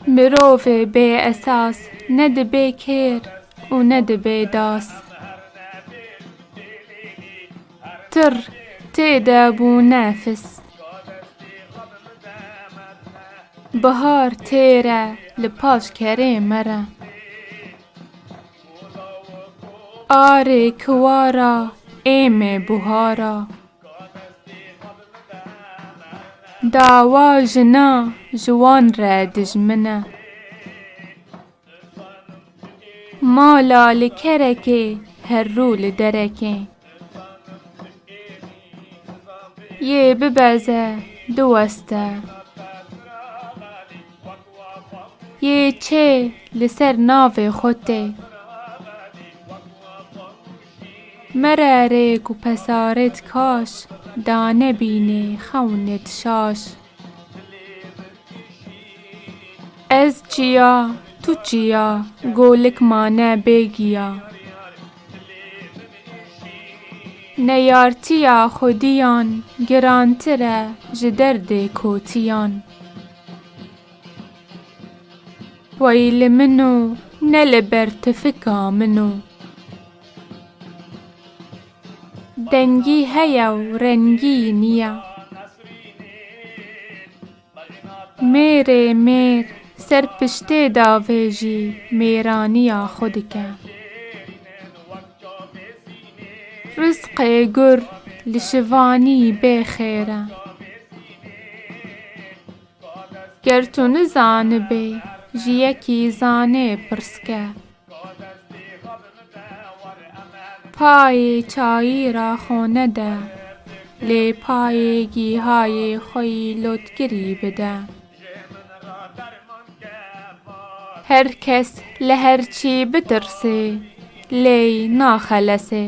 Mirovê bê esas ne dibe kêr û ne dibe das. Tir tê de bû nefis. Bihar tê re li paş kerê me re. Arê kiwara êmê buhara. Dawa jina ji wan re dijmin e. Mala li kerekê herrû li derekê. Yê bibeze du west e. Yê çê li ser navê xwe tê. Mere rêk û pesarê dikaş. Dane bînê xewnê dişaş. Ez çiya, tu çiya, golik mane bê giya. Neyartiya xwediyan girantir e ji derdê kotiyan. Wey li min o ne li ber tifika min o. Dengî heye û rengî niya. Mêrê mêr ser piştê davê jî mêraniya xwe dike. Rizqê gur li şivanî bê xêr e. Ger tu nizanibê, ji yekî zanê pirsike. Payê çayî ra xo nede, lê payê gîhayê xo yî lotkirî bide. Her kes li her çî bitirsê, lê naxelesê.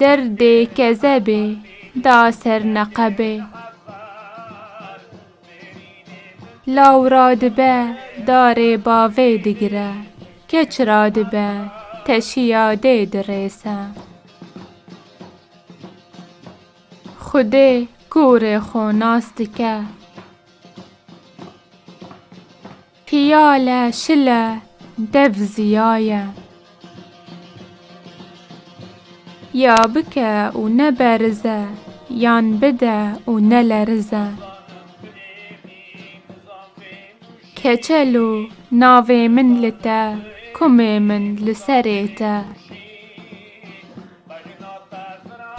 Derdê kezebê da ser neqebê. Law ra dibe darê bavê digire. Keç ra dibe teşiya dê dirêse. Xwedê kurê xo nas dike. Piyale, şile, dev ziyaye. Ya bike û neberize, yan bide û nelerize. Keçel o, navê min li te, kumê min li serê te.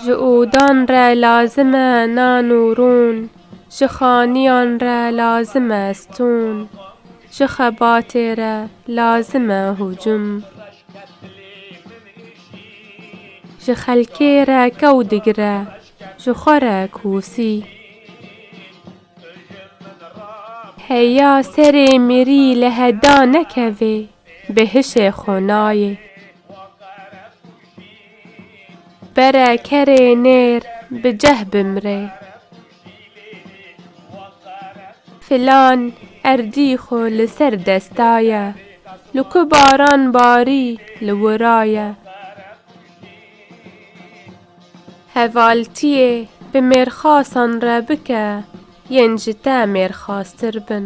Ji odan re lazim e nan û rûn, ji xaniyan re lazim e stûn, ji xebatê re lazim e hûcûm. Ji xelkê re kew digire, ji xwe re kûsî. Heya serê mirî li heda nekevê, bi hişê xwe nayê. Pere kerê nêr bi ceh bimrê. Filan erdî xo li ser desta ye. Li ku baran barî li wira ye. Hevaltiyê bi mêrxasan re bike yên ji te mêrxastir bin.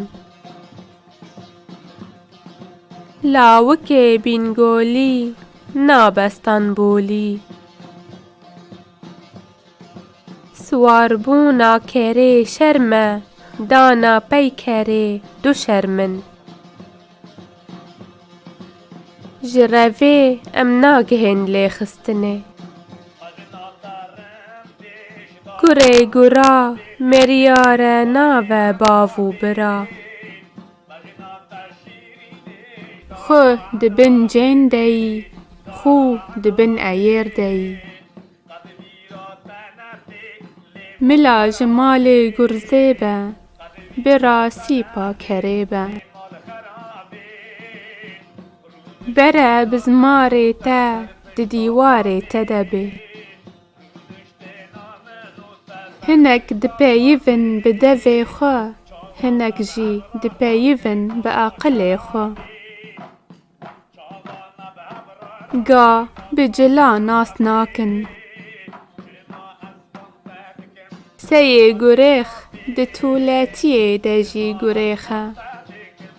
Lawikê Bîngolî nabe Stenbolî. Siwarbûna kerê şerm e, dana peykerê du şerm in. Ji revê em nagihên lêxistinê. Kurê gura meriyare nave bav û bira. Xu di bin cên de yî, xû di bin eyêr de yî. Mila ji malê gurzê be, bira sîpa kerê be. Bere bizmarê te di dîwarê te de bê. Hinek dipeyivin bi devê xwe, hinek jî dipeyivin bi aqilê xwe. Ga bi cila nas nakin. Seyê gurêx di tuletiyê de jî gurêx e.